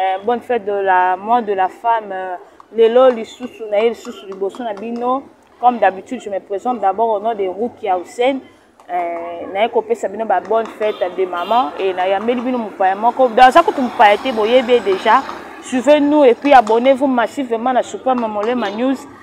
Eh, bonne fête de la mois de la femme euh, lelo lisusu na ye lisusu liboso na bino comme d'habitude je me présente d'abord au nom de rukia hussein eh, naye kopesa bino ba bonne fête de maman e nayambeli bino mopaya moko aza kutu mopaya te boyebi ye déjà suivez nous et puis abonnez vous massivement na super mamolema news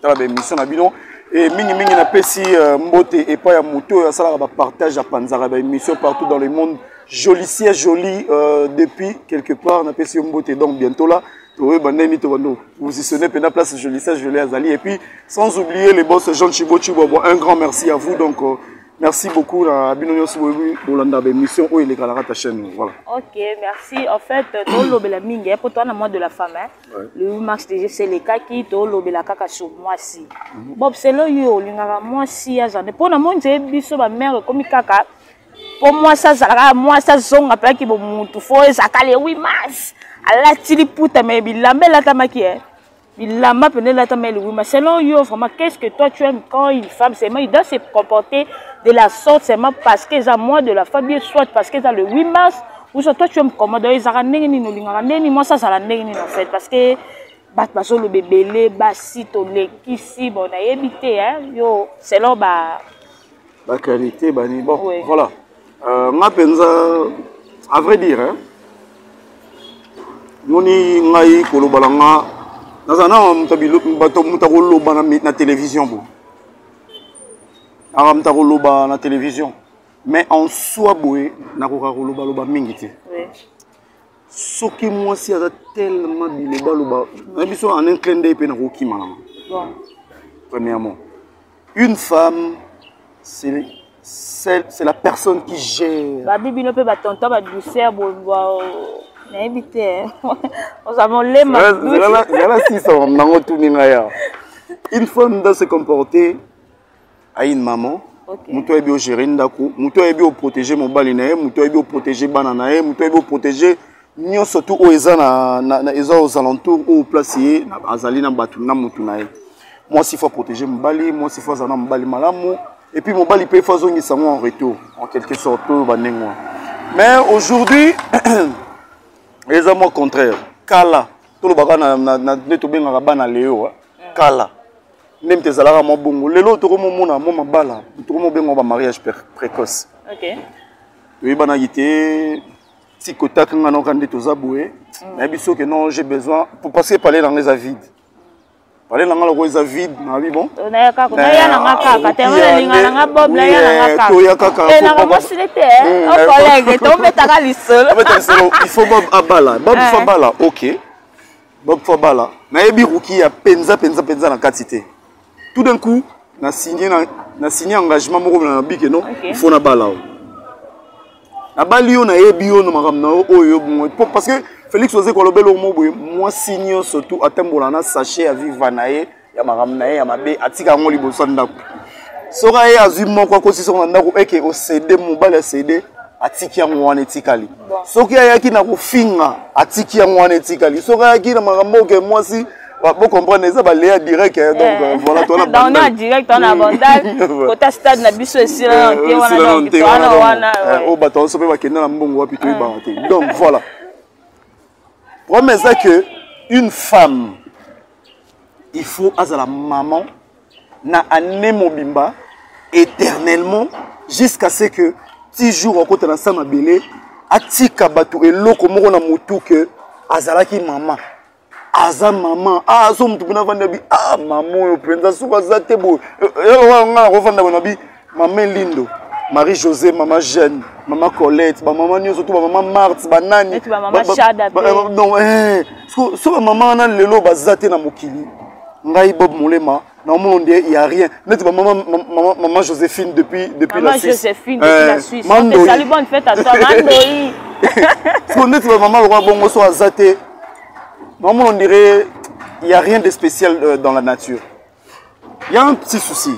tala ba émission na bino et mingi mingi na pesi euh, mbote et pas ya moto oyo asalaka ba partage apanzaka ba émission partout dans le monde jolicier joli euh, depuis quelque part na pesi yo mbote donc bientôt là toyeba ndenge to bando positionner pena place jolicier joli azali et puis sans oublier les boss Jean Chibo Chibo un grand merci à vous donc euh, merci beaucoup na bino nyonso bolanda baémission oyo elekalaka ta chaîne voilà ok merci en fait tolobela mingi mpo toa na mois de la femme le 8 mars déjà eselekaki tolobela kaka sur mwasi mhm. bob selo yo olingaka mwasi ya zande mpo na moni te biso bamare ekomi kaka mpo mwasi azalaka mwasi azonga mpeyaki bomutu fo ezalaka le 8 mars alati liputa me bilamba elatamaki e eh. bilamba mpena elatama le 8 mars selon yo vraiment qu'est ce que toi tu aimes quand une femme seulement il doit se comporter de la sorte seulement parce que eza mois de la femme bien soit parce que eza le 8 mars Uso toi tu es commode ezaka ndenge nini olingaka ndenge nini mwasi azala ndenge nini en fait parce que bato bazoloba ebele basi tolekisi bon nayebi te yo selon ba baqualité bani bon oui. voilà euh, nga mpenza à vrai dire hein, moni ngai koloba na nga naza na bato moto akoloba na télévision bo aka moto akoloba na télévision mais en soi boye nakoka kolobaloba mingi te soki mwasi aza tellement bilobaloba na biso en un clin d'œil mpe nakokima nanga premièrement une femme c'est c'est la personne qui gère babi bino mpe batonton badouceur nayebi te oza molemazala sisa nango tuni ngai awa une femme doit se comporter aine maman okay. moto ayebi ogere ndako moto ayebi oprotege mobali na ye moto ayebi oprotege bana na ye moto ayebi oprotege nyonso tu oyo eza na, na, na eza aux alentours oyo place ye azali na bato na motu na ye mwasi fo aprotege mobali mwasi fo azala na mobali malamu epuis mobali mpe fo azongisa yango en retour en quelque sorte oyo bandenge wana mais aujourd'hui eza mwa contraire kala tolobaka nde tobengaka bana leo kala meme te ezalaka mwa bongo lelo tokomomona mwa mabala tokomobenga ba mariage précoce toyebanaki te tikotaki nga noka nde toza boye mm. nayebi soki non j'ai besoin parce que palais nanga eza vide palais nanga loko eza vide nayebi bon toya kakatoya kaka il faut bob abala bob fo abala ok Bob Fabala, nayebi Rukia penza penza penza na kati te. Tout d'un coup, na signé na, na signé engagement moko na bike non, okay. il faut na bala. Nabali yo nayebi yo na makambo na yo oyo bongo parce que Félix oze kolobela omo boye mwasi nyonso tu atambola na sachet ya viva na ye ya makambo na ye ya mabe atika yango liboso ya ndako soki aye azwi moko akotisi yango na ndako eke osede mobali asede atiki yango wana etikali soki ayaki na kofinga atiki yango wana etikali soki ayaki na makambo oke mwasi bo comprendre eza baleya direct eh, donc eh. voilà tona bandal direct tona bandal kota stade na biso esila na te wana donc tona wana eh, o bato so pe bakenda na mbongo wapi to ebanga te donc voilà problème eza que une femme il faut azala maman na année mobimba éternellement jusqu'à ce que ti jour akota na sa mabele atika bato eloko moko na motu ke azalaki mama aza mama ah, azo motu mpena avandi abi a ah, mama oyo mpenza soki aza te boye eh, eh, nga nakofanda boye nabi mama elindo marie josé mama jeune mama colette bamama nyonso to bamama marte banani so bamama wana lelo baza te na mokili ngai bob molema na omona nde ya rien neti bamama mama, mama joséphine depuis depuis la suisse joséphine depuis la eh, suisse ezali bonne fête à toi mandoi so neti bamama lokola bongo so aza te na omona ondire ya rien de spécial euh, dans la nature ya un petit souci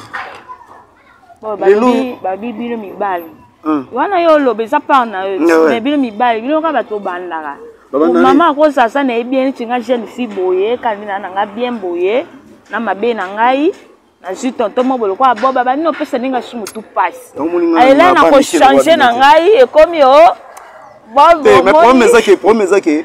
babi bino mibali hmm. wana yo oloba eza part na yo eh mais bino mibali bino kaka bato obandaka mama akozasa na ye bien neti nga jeune fille boye kandina na nga bien boye na mabe na ngai nazwi tonto moko lokola boba banini opesa ndenge asusu motu mpasi alela na kochange na ngai ekomi o oh, bobo ezaki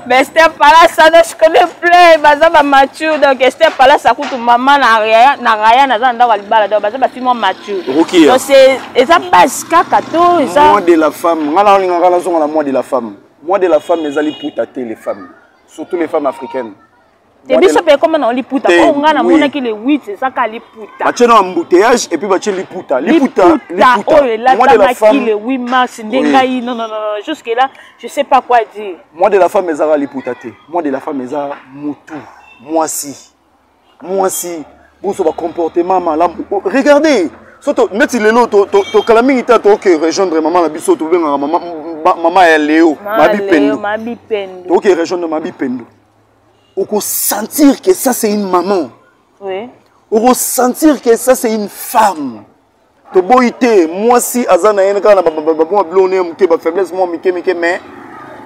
mais esther palace ça ne se connaît plus baza ba mature donc esther palace akutu mama na raya na raya naza na ndako ya libala donc baza basi mwa mature Rukia. donc c'est eza base kaka to eza mois de la femme nga nalingaka nazonga na mois de la femme mois de la femme ezali puta te les femmes surtout les femmes africaines te biso mpe ekoma na liputa mpo ngai namonaki le 8 ezaka liputa batie na embouteillage epuis batie liputa liputa oyo elatamaki le 8 mars nde ngai nonnono jusque là je sais pas quoi dire mois de la femme ezaka liputa te mois de la femme eza mutu mwasi mwasi boso bacomportement malamu oh, regardez soto neti lelo tokala mingi te toke rejoindre mama na biso tobengaka mama ya leo mabipendu toke rejoindre mabipendu okosentir que ça c'est une maman oui. okosentir que ça c'est une femme toboyi te mwasi aza na ye kaka na bamwa biloko neye moke bafaiblesse mwa mike mike mais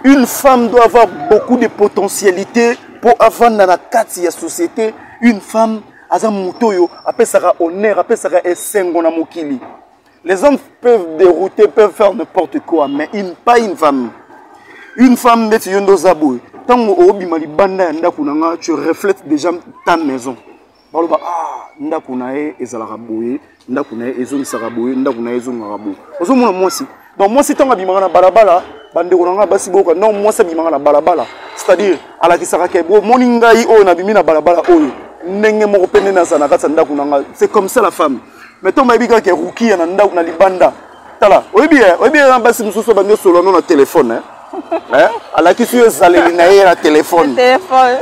une femme doit avoir beaucoup de potentialité mpo avanda na kati ya société une femme aza moto oyo apesaka honneur apesaka esengo na mokili Les hommes peuvent dérouter, peuvent faire n'importe quoi, mais une, pas une femme. Une femme neti yo nde oza boye ntango obima libanda ya ndako na nga tu reflète déjà ta maison baloba ah ndako na ye ezalaka boye ndako na ye ezongisaka boye ndako na ye ezongaka boye ozomona mwasi donc mwasi ntango abimaka na balabala bandeko na ngai basi boyoka no mwasi abimaka na balabala c'est-à-dire alakisaka ke bomoni ngai oyo nabimi na balabala oyo ndenge moko mpe nde naza na kati ya ndako na ngai c'est comme ça la femme mais ntango bayebi kaka ke rukia na ndako na libanda tala oyebi ye oyebi ye na basi mosusu bandi osolola no na telefone eh? alakisi yo ezaleli na ye na telefone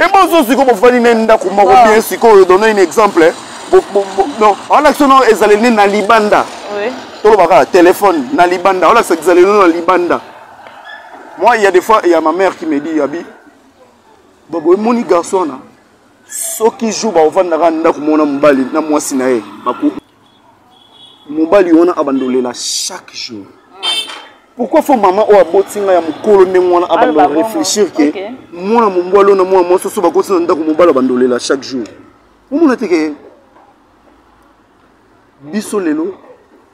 ebozo sikoyo bofandi na ye ndako moko ah. bien sikoyo donne un exemple non alakisi no ezaleli ne na libanda toloba kaka telefone na libanda olakisa ezaleli no na libanda moi il y a des fois il y a ma mère qui me dit abi bobo emoni garçon wana soki jour bakovandaka na ndako moko na mobali na mwasi na ye mobali wana abanda olela chaque jour pourquoi fo mama oyo aboti ngai ya mokolo ndenge wana abanda réfléchir ke mwana mombwa lona mwana mwasi oso bakoti na ndako mobali abanda olela chaque jour omona te ke biso lelo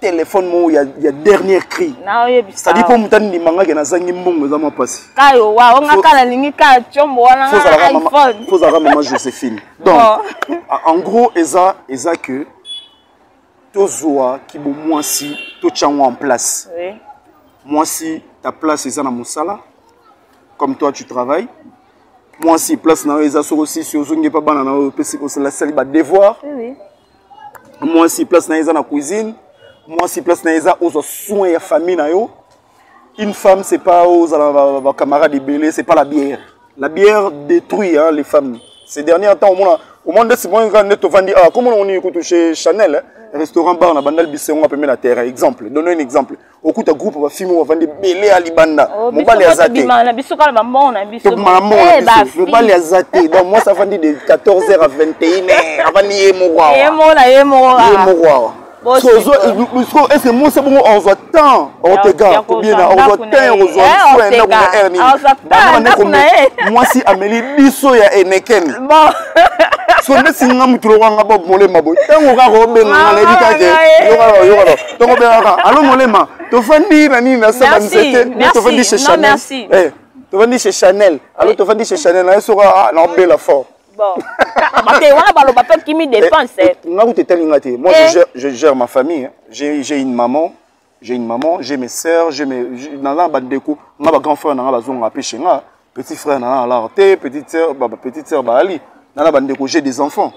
telefone moko ya, ya dernier cri cetadi mpo moto andima ngake nazangi mbongo eza mwa mpasi kayo wa onga ka nalingi ka combo wana fozalaka mama josephine donc en gros eza eza que tozwa kibomwasi totya yango en place oui. mwasi ta place eza na mosala comme toi tu travailles mwasi place na yo eza soko sisi ozongi epa bana na yo opesi osalasali badevoir oui. mwasi place na ye eza na cuisine mwasi place na ye eza ozwa soin ya famille na yo une femme c'est pas ozala na bacamarade ebele c'est pas la bière la bière détruit hein, les femmes ces derniers temps omona omona nde simonga nde tovandi awa ah, komona oni kutu chez chanel hein, restaurant bar na bandali bisengo apembe na terrain exemple donne un exemple okuta groupe bafilme oyo bavandi ebele ya libanda oh, mobali aza tebima na biso kala bambongo na biso eh, mobali aza te donc mwasi avandi de 14 heure à 21 heure avandi ye moko awa ye moko na ye moko awa ye moko awa ese mwasi bongo ozwa temps ortega kobiena ozwa temps okozwa soin ndako na heure nini banabandekome mwasi ameli biso ya enekene so nde singa motu lokanga bob molema boye ntango kaka obenga nga nayebi kake yokaka yokaka tokobengaka alo molema tofandi na nini na saba nzete tofandi chez chanel eh, tofandi chez chanel alo tofandi chez chanel naye soka ah, naobela fort bate wana baloba mpe kimi dépense eh, eh, nga kuta etali nga te moi je gère ma famille j'ai une maman j'ai une maman j'ai mes sœurs j'ai mes naza na bandeko nga bagrand frère na nga bazonga mpe chez nga petit frère na nga alare te petite sœur petite sœur baali nana bandeko j'ai des enfants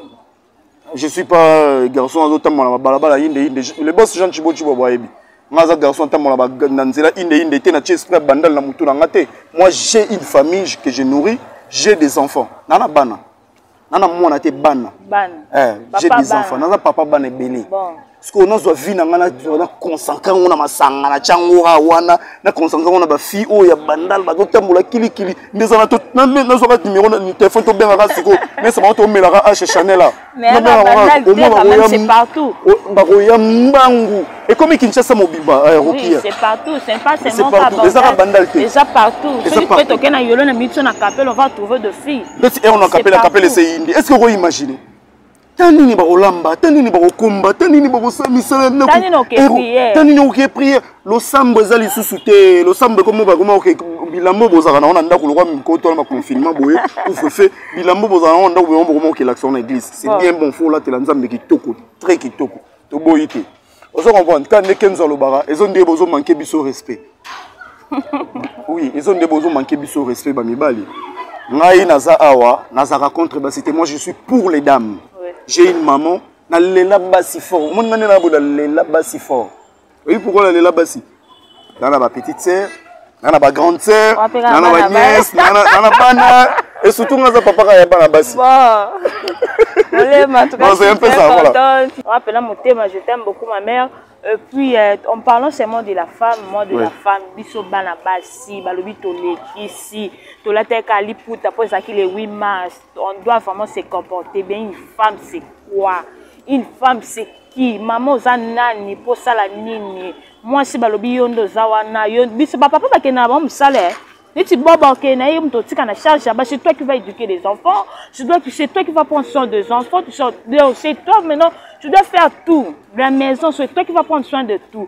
je suis pas euh, garçon azotambola na babalabala inde inde le boss jean chibo chibo boyebi nga aza garçon atambola na nzela inde inde te na tie esprit ya bandal na motu na nga te moi j'ai une famille que je nourris j'ai des enfants nana bana nana mwana te bana eh, j'ai des enfants naza papa bana ebele sikoyo nazwa vi na ngai na concentre yango na masanga na tyango a wana na concentre yango na bafille oyo ya bandal bazotambola kilikili nde eza nazwaka nimero na telefone tobengaka sikoyo mesa bango tomelaka ashe chanel a bakoya mbangu ekomi kinshasa mobimba rokiaezaka bandal te ndeti eona kapele kapele eseyindi est ce que okoimagine ta nini bakolamba ta nini bakokumba ta nini bakosala misala ya ndako ta nini okoke priere losambo eza lisusu te losambo ekomi bakoma oke bilambo bozalaka nango na ndako lokwa mikoto wana baconfinement boye couvrefe bilambo bozalaka nango na ndako boma bokoma okelakisa na église c'est bien bon fo olatela nzambe kitoko très kitoko toboyi te ozo comprendre ta nde kenzo alobaka ezo nde bozo manquer biso respect oui ezo nde bozo manquer biso respect ba mibali ngai naza awa nazaka contre basi te moi je suis pour les dames j'ai une maman nalela basi fort omoni nani na boda lela basi fort oyebi pourkoi nalela basi na na ba petite sœur na na ba grande sœur na na ba nièce na na bana et surtout nga za papa ka ya bana basi olema tukapela motema je t'aime beaucoup ma mère Et puis, euh, en parlant seulement de la femme, moi de oui. la femme, biso bana basi, balobi toleki si, tolateka liputa, après ça qui les 8 mars, on doit vraiment se comporter bien. Une femme, c'est quoi Une femme, c'est ki mama oza nani mpo osala nini mwasi balobi yo nde oza wana yo biso bapapa bakenda na bango mosala eh. neti boba okende na ye moto otika na charge ya basi toi qui va éduquer les enfants c'est toi, toi qui va prendre soin des enfants c'est toi maintenant tu dois faire tout la maison c'est toi qui va prendre soin de tout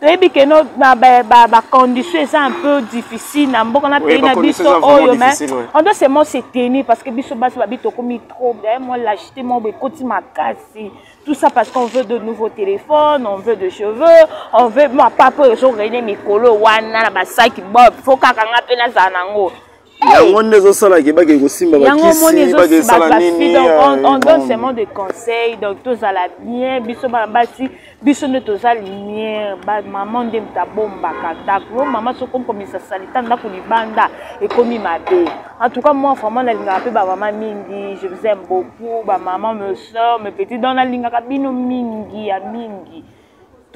toyebi ke no na bacondition ba, ba eza un peu difficile na mboka na pays na biso oyo mais ouais. on doit seulement se tenir parce que biso basi babi tokomi trop bien moi lachete moko ekoti makasi tout ça parce qu'on veut de nouveaux téléphones on veut de cheveux on veut ma papa oyo ezorene mikolo wana na basaki bob fo kaka nga mpe nazala nango yango nde ezosala ke bake kosimba bakisi bake esala nini donc on, on donne euh, seulement des conseils donc tozala bien biso bana basi biso nde toza lumière bamama nde moto abombaka ndako mama soki okomisa salita ndako libanda ekomi mabe en tout cas moi vraiment nalingaka mpe bamama mingi je vous aime beaucoup bamama me soeur me petit donc nalingaka bino mingi ya mingi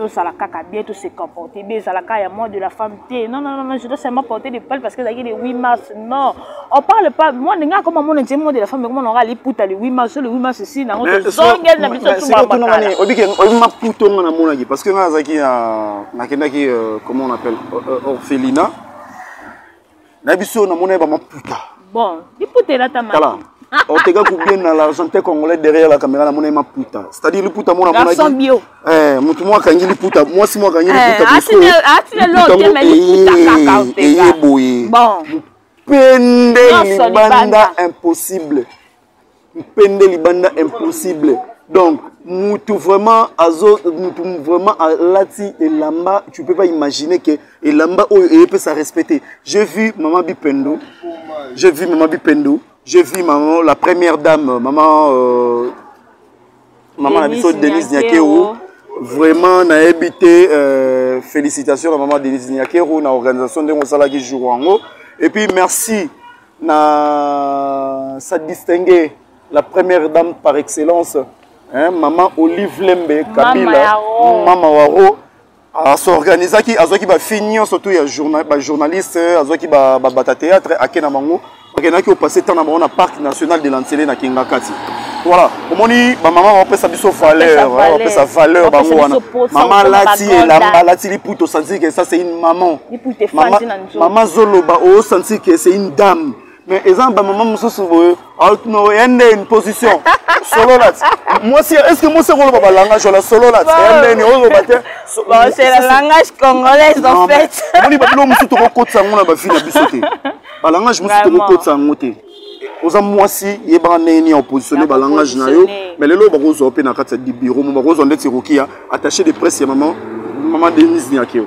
tozala kaka bien to se comporter bien ezala kaka ya moi de la femme te non non non je dois seulement porter des pales parce que ezalaki le 8 mars non on parle pas moi ndenge akoma mona nzembo moi de la femme ekoma nanga liputa le 8 mars le 8 mars si nango tozongeli na biso tubamakala oyebi maputa onga namonaki parce que ngai azalaki nakendaki euh, comment on appelle euh, euh, orphelina na biso na mona ba maputa bon liputa elata ma kala oteka kubien na l'argentin congolais derrière la caméra na mona maputa c'est à dire liputa mona mona garçon bio eh mutu mwa kangi liputa mwa si mwa kangi liputa eh asine asine lo te mais liputa kaka eh, oteka eh, eh, boye bon pende libanda impossible mpende libanda impossible donc mutu vraiment azo mutu vraiment alati elamba tu peux pas imaginer que elamba oyo eyepesa respecte je vu maman bipendo je vu maman bipendo je vu maman la première dame maman euh, maman na biso denise nyakeo vraiment nayebi te euh, félicitation na maman denise nyakero na organisation ndenge osalaki jour yango et puis merci na sa distinguer la première dame par excellence hein, maman olive lembe kabila mama waro asorganisaki azwaki bafille nyonso to ya bajournaliste azwaki babata théâtre ake na bango bakendaki opase ntango na bango na parc national de lancele na kingakati voilà omoni bamama bapesa biso valeur bapesa valeur bango wana mama alati elamba alati liputa osanzike ça c'est une maman mama zoloba o sentir que c'est une dame mais eza na bamama mosusu boye aotino ya nde une position solola ti mwasi est ce que mwasi akoloba balangage wala solola ti ya ndeni oloba te moni babilo mosusu tokokotisa yango na bavi na biso te balangage mosusu tokokotisa yango te oza mwasi yebaka ndenge nini ya opositionne balangage na yo mais lelo bakozwa mpe na kati ya biro mo bakozwa ndeti ekoki ya attaché de presse ya mama mama denise niakeo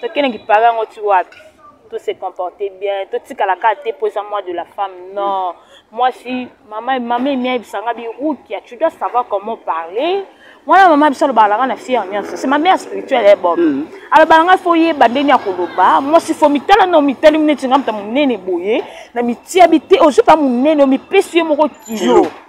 tokende kipara yango ti wapi to se comporter bien totikala kaka te mpo eza moi de la femme non mwasi mama mama emi ayebisa nga birukia tu dois savoir comment parler mwana mama biso alobaka nanga na fiere nyonso se mamea spirituelle ye bob mm. alobaka ngai fo yeba ndenge ya koloba mwasi fo mitala na omitali neti nga moto monene boye na mitiabi te ozwi mpa monene omipesi ye moko kilo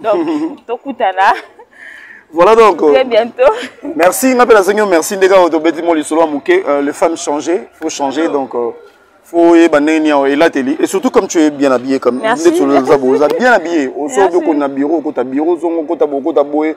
donc tokutana voilà donc très bientôt merci nga mpe nazangi yo merci ndenge oyo tobeti mo lisolo ya moke euh, les femmes changer faut changer donc euh, faut oyeba ndenge nini awa elateli et surtout comme tu es bien habillé comme ndeti oza boye oza bien habillé osoki okoni na bureau okota bureau ozongo okota boye okota boye